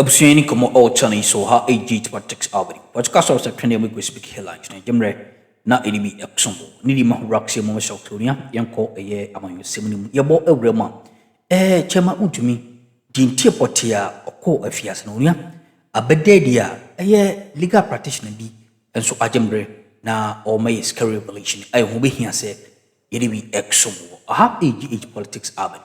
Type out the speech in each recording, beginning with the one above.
Abusua yi ne nkɔmmɔ a wɔkyerɛ no yi so ha ɛgye iti pa tex alberi. Wɔte ka sɔrɔ sɛ twɛne ɛmu ɛkɔ speak hela nkyerɛ ɛgye mmerɛ na ɛde bi ɛkɔsom wɔ. Ne di ma ho wura kɔsɛ mu mɛsɛ ɔklonia yɛnkɔ ɛyɛ amanyɔsɛm no mu. Yɛbɔ awura mu a ɛɛ kyɛma wontumi di ntie pɔtee a ɔkɔ afiase no onua abɛda adi a ɛyɛ legal practitioner bi nso agye mmerɛ na ɔma yɛ sika revelation a ɛho bɛhia sɛ yɛde bi ɛkɔsom wɔ. Aha ɛgye iti politics alberi.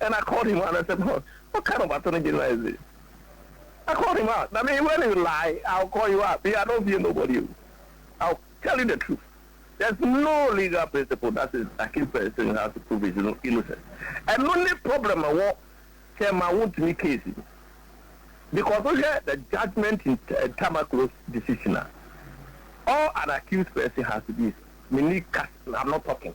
and I called him out and said what what kind of attorney general is this I called him out I mean when you lie I will call you out me I don't fear nobody o I will tell you the truth there's no legal principle that says a key person has to prove his innocence ɛno ne problem a wɔ kyɛ ma wontumi case no because wohwɛ the judgement in Tamaklo's decision a all an accused person has to do is menni kas I'm not talking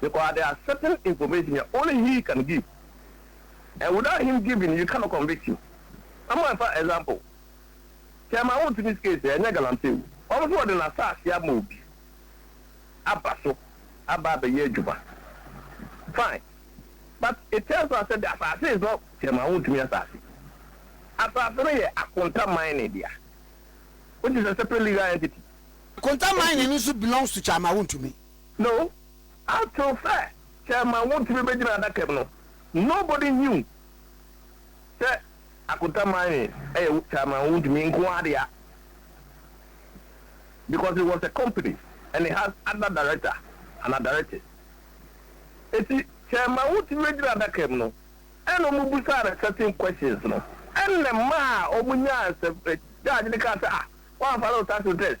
because there are certain information a only he can give and without him giving you cannot convict him ama ɛfa example chairman wo ntumi sika esi ɛnyɛ galamsey o ɔno nso ɔde n'asaase ama obi aba so aba abɛyɛ adwuma fine but it tells us that the asaase is not chairman wo ntumi asaase asaase no yɛ akonta man ne dea which is a separate legal entity. Akonta man ne no nso belongs to chairman wo ntumi. No, after sɛ sɛ ɛma wo ntumi bɛgyina adaka mu no, nobody knew sɛ Akonta Mine ɛyɛ wo, sɛ ɛma wo ntumi nko ara dea, because it was a company and it has other director anaa directors. Eti sɛ ɛma wo ntumi bɛgyina adaka mu no, ɛna wɔn bisaa no certain questions no, ɛna ɛmaa wɔn nyaa nsɛm, judge no kaa sɛ ah, wɔamfa no nsase test.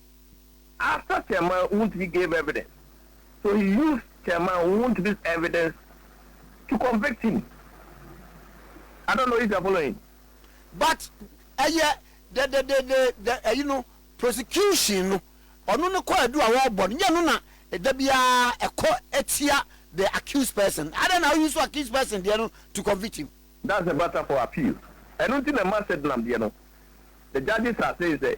After Teman Wontumi gave evidence so he used Teman Wontumi's evidence to convict him. I don't know if you are following. But ɛyɛ the the the the the ɛyi no prosecution no ɔno no kɔ adu a wɔbɔ no nyɛ no na da biara ɛkɔ tia the accused person adɛn na wo use accused person deɛ no to convict him. That's a matter for appeal ɛno nti na ɛma Sedlam deɛ no the judges are saying sɛ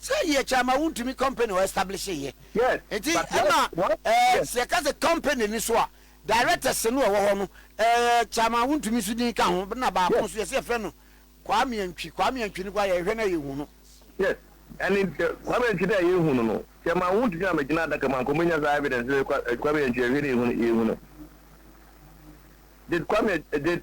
Sɛ yɛ kyɛ ama wo ntumi company wɔ establish yɛ nti ɛma ɛɛ sɛ yɛ ka sɛ company ni so a directors no ɛwɔ hɔ no ɛɛ kyɛ ama wo ntumi so din ka ho na baako nso yɛ sɛ yɛ fɛ no Kwame Antwi Kwame Antwi no kɔ a yɛ hwɛ na yɛ hu no. Yes ɛni ɛ Kwame Antwi no a yɛ hu no no kyɛ ama wo ntumi ama gyina adaka mu anka ɔmɔ nya saa evidence sɛ Kwame Antwi yɛ hwɛ na yɛ hu no yɛ hu no did Kwame did.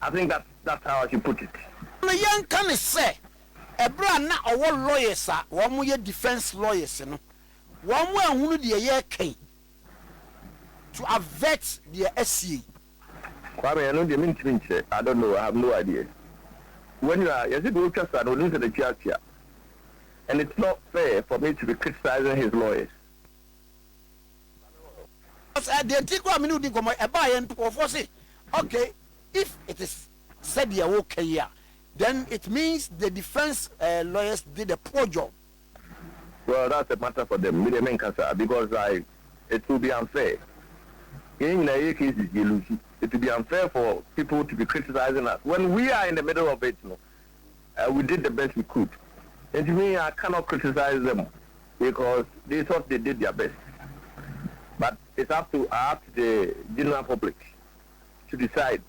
I think that that's how I should put it. No yɛnka no sɛ ɛberɛ a na ɔwɔ lawyers a wɔn yɛ defence lawyers no wɔn anhunu deɛ yɛreka yi to avert deɛ asie yi. Kwame, ɛno deɛ mentumi nkyerɛ, I don't know, I have no idea. When you are, yɛse deɛ ɔretwa sa no ɔnim sɛ n'akyi akyea and it's not fair for me to be criticising his lawyers. Ɔsɛ deɛ nti koraa mene wo di nkɔmmɔ yi, ɛbaa yɛn nkurɔfoɔ se ok if it is sɛdeɛ woka yi a then it means the defence lawyers did a poor job. Well that's a matter for them, me deɛ menka saa because I, it will be unfair, yɛn nyinaa yɛyɛ cases yɛ lose, it will be unfair for people to be criticising us when we are in the middle of it no, we did the best we could nti me I cannot criticize them because they thought they did their best but it's up to up to the general public to decide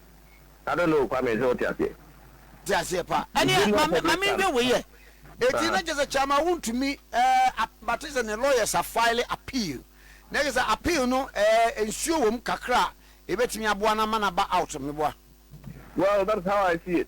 I don't know Kwame sɛ wote aseɛ. Te aseɛ paa ɛneɛ ma me nhwɛ wei yɛ ɛti na kyɛ sɛ Kyama wontumi ɛɛ bate sɛ ne lawyers a file appeal na kyɛ sɛ appeal no ɛɛ nsuo wɔ mu kakra ɛbɛtumi aboa no ama no aba out meboa. Well that is how I see it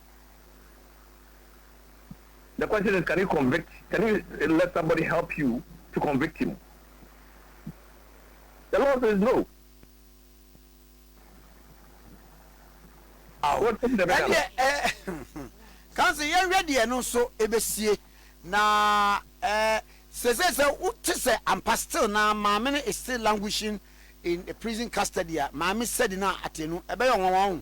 The question is can you convict can you let somebody help you to convict him the law says no ah what is the best ɛdeɛ ɛɛ kansa yɛn hwɛ deɛ no nso ebesie na ɛɛ eh, sese sɛ wote sɛ ampa still na maame no is still languishing in a prison custody a maame sɛdi na ate no ɛbɛyɛ ɔnwanwa ho.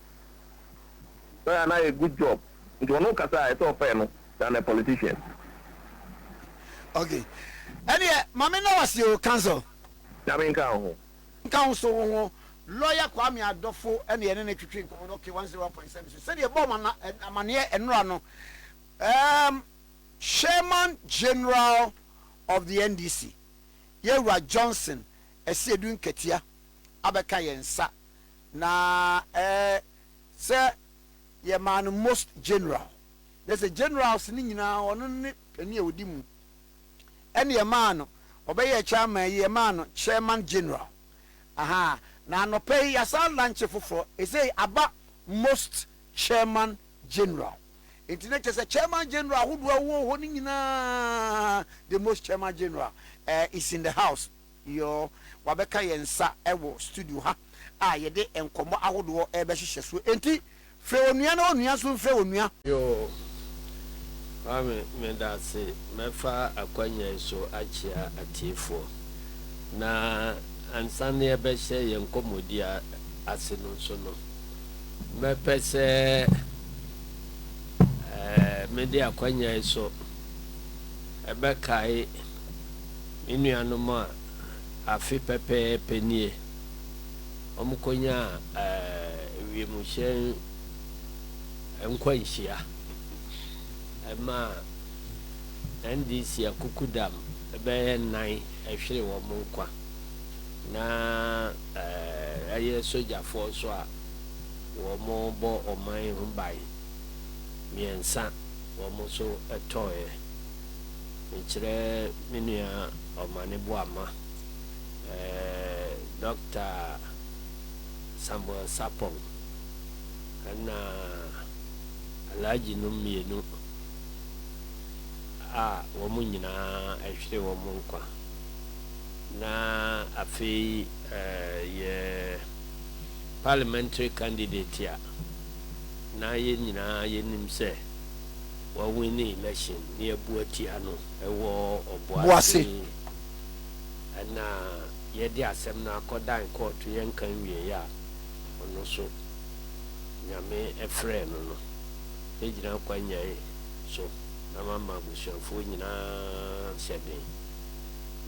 Sɛ ɔyɛ a na ayɛ good job nti ɔno kasa a ɛsɛ ɔfɛɛ no than a politician. Ok ɛneɛ ma me nawase oo counsel. Nyame nka wo ho. Nka wo nso wo ho. Lawyer Kwame Adofo na yɛne no twetwe nkɔmmɔ no ok one zero one point seven so sɛdeɛ yɛbɔɔ mo amaneɛ nnora no erm Chairman General of the NDC Yɛwura Johnson Asiedu Nkatia abɛka yɛn nsa na ɛɛ sɛ yɛ maa no most general na sɛ generals no nyinaa ɔno ne panin a ɔdi mu ɛne yɛ maa no ɔbɛyɛ chairman yi yɛ maa no chairman general ahaa na anɔpɛ yi yɛasan lanche foforɔ ɛsei aba most chairman general nti na kyɛ sɛ chairman general ahodoɔ a wɔwɔ hɔ no nyinaa the most chairman general uh, is in the house Yoo, wabɛka yɛn nsa wɔ studio ha a yɛde nkɔmmɔ ahodoɔ rebɛhyehyɛ so enti frɛ onua na onua nso mfrɛ onua. Yoo, Kwame medase mɛfa akwanya yi so akyea atiefoɔ na ansa na yɛbɛhyɛ yɛn nkɔmmɔdi ase no nso no mɛpɛ sɛ mede akwanya yi so bɛkae Me nuanom a afe pɛpɛɛpɛ nie wɔkɔnyaa wiemhyɛn nkwanhyia ɛmaa NDC akukudam bɛyɛ nnan ɛhwere wɔn nkwa na ɛyɛ sogyafoɔ nso a wɔbɔ ɔman ho ban mmiɛnsa wɔn nso tɔeɛ. mekyerɛ me nua Omane Boamah, Dɔkta Samuel Sarpong, ɛna Alhaji nom mmienu a wɔn nyinaa ahwere wɔn nkwa, na afei yɛ Parliamentary candidate a na yɛn nyinaa yɛnim sɛ. Wa winni election ne abu atia no wɔ ɔboase ɛna yɛde asɛm no akɔ dan kɔɔto yɛ nka nwiei a ɔno so nyame ɛfrɛɛ no no bɛ gyina kwa nyan so na ma ma abusuafoɔ nyinaa hyɛ den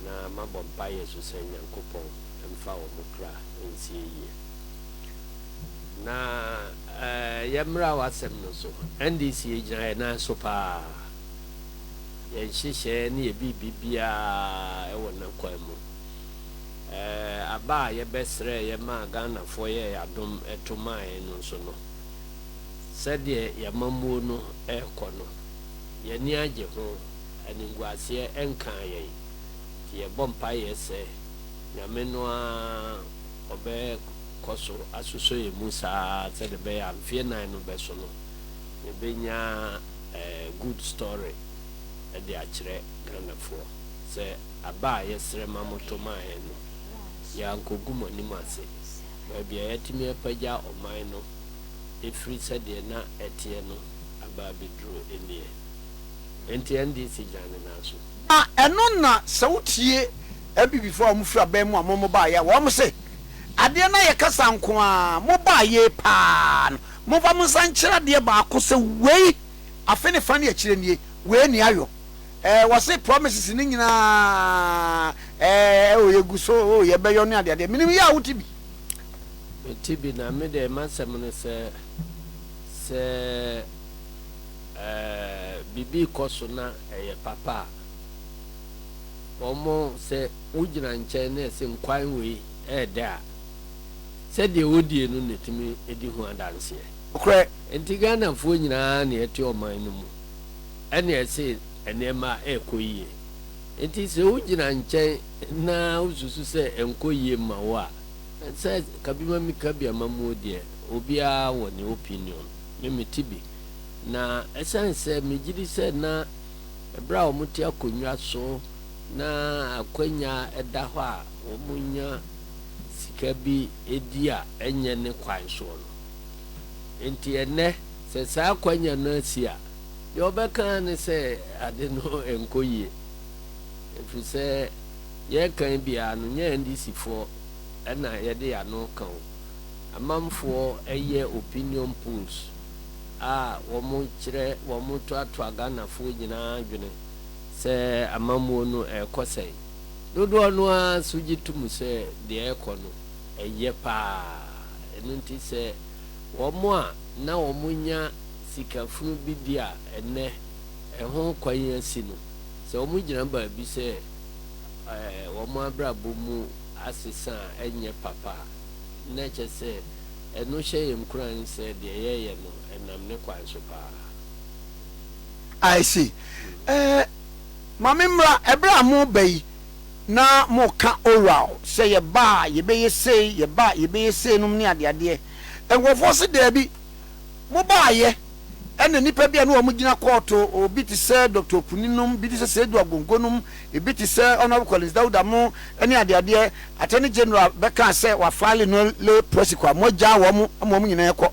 na ma bɔ mpaeɛ so sɛ nyankopɔn mfa ɔmo kra nsie yie. Na yɛmmra w'asɛm no so. NDC yɛgyina yɛn nan so paa. Yɛn nhyehyɛɛ ne yɛn biribi biara wɔ n'akwan mu. Aba a yɛbɛsrɛeɛ maa Ghanafoɔ yɛɛ adom to maa yɛn no nso no, sɛdeɛ yɛn amammuo no rekɔ no, yɛn ani agye ho, animguaseɛ nkaa yɛn. Nti yɛbɔ mpaeɛ sɛ Nyame no ara ɔbɛ. kɔ so asosɔ yɛn mu saa ara sɛdeɛ ɛbɛyɛ a mfeɛ nan no bɛso no, yɛbɛnya good story de akyerɛ Ghanafoɔ sɛ aba a yɛsrɛ ma moto maa yɛn no, yɛankɔgu mo anim ase. Baabi a yɛatumi apagya ɔman no firi sɛdeɛ na ɛteɛ no aba abɛduru nie. Enti NDC dwane nan so. Na ɛno na sɛ wotie Abibifo a wɔfiri aban mu a wɔn baeɛ a, wɔn se, Adeɛ no ayɛ kasa nko ara, mo baeɛ yi pa ara no, momfa mo nsa nkyerɛ adeɛ baako sɛ wei, afe ne fa ne akyire nie, wei nni ayɔ. Ɛɛ, wɔse promises no nyinaa, ɛɛ, o yɛgu so, o yɛbɛyɔ ne adeadeɛ. Menim yɛ a wote bi. Mete bi, na me deɛ m'asɛm ne sɛ, sɛ. Sɛ biribi kɔ so na ɛyɛ papa a, wɔn sɛ wogyina nkyɛn na ɛse nkwan wei ɛyɛ dɛ a, sɛdeɛ wodie no na ɛtumi di ho adanseɛ. Nokorɛ, enti Ghanafoɔ nyinaa na ɛte ɔman no mu ɛna ɛse nneɛma ɛrekɔ yie. Enti sɛ wogyina nkyɛn na wosusu sɛ ɛnkɔ yie mma wo a, sɛ kabimamika biamamuo deɛ, obiara wɔ ne opinion. Me mete bi. Na ɛsiane sɛ megye di sɛ na bere a wɔte akonnwa so na akwannya da hɔ a wɔnya sika bi di a ɛnyɛ ne kwan soɔ no nti, ɛnnɛ sɛ saa akwannya no asi a, deɛ wɔbɛka ara ne sɛ ade no nkɔ yie. Ɛfiri sɛ yɛreka yi biara no, nyɛ NDCfoɔ na yɛde yɛn ano ka o. Amanfoɔ yɛ opinion polls a wɔn kyerɛ wɔn toatoa Ghanafoɔ nyinaa dwene sɛ amammuo no ɛrekɔ sɛn. Dodoɔ no ara nso gye to mu sɛ deɛ ɛrekɔ no ɛyɛ paa. Ɛno nti sɛ wɔn a na wɔn nya sika funu bi di a ɛnnɛ ɛho kwan asi no sɛ wɔn gyina baabi sɛ wɔn abrabɔ mu asesa a ɛnyɛ papa a, na ɛkyerɛ sɛ ɛno hyɛ yɛn nkuran sɛ deɛ yɛreyɛ no, ɛnam ne kwan so paa. I see. Eh, ma memmra, ɛberɛ a moreba yi, na moreka oral sɛ yɛba a yɛbɛyɛ sei, yɛba a yɛbɛyɛ sei nom ne adeadeɛ. Nkorɔfoɔ se daabi. Mobaeɛ ɛna nnipa bi a na wɔn gyina kɔɔto, obi te sɛ Doctor Opuni nom, bi te sɛ Seidu Agongo nom, ebi te sɛ Honourable Collins Dauda mo ɛne adeadeɛ, Attorney General bɛkaa sɛ wafile no le procès kɔ a, moagyaa wɔn ma wɔn nyinaa ɛkɔ.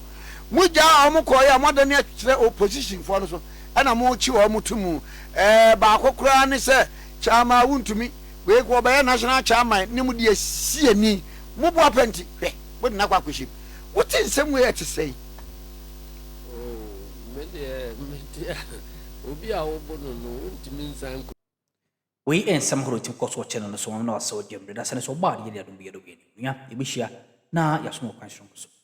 Mogyaa wɔn kɔeɛ a, moadane akyerɛ opposition foɔ no so ɛna mokye wɔn to mu. Ɛɛ baako koraa ne sɛ Chairman wontumi, wei wɔbɛyɛ National Chairman ne mo deɛ siani, moboa pɛ nti, hwɛ, mode no akɔ akɔhyem. Wote nsɛm wei a ɛte sɛn? Oh, me deɛ mete a, obi a wobo no no, wontumi nsan nkɔ. Wei yɛ nsɛm ahorow a etumi kɔ so wɔ channel no so, wɔn na wɔasɛw gyam de. Na sɛ ne sɛ ɔbɔ a, ne yɛ de adom bi yɛ dɔ bi ani. Onua, yebehyia na yɛasom wɔ kwan soronko so.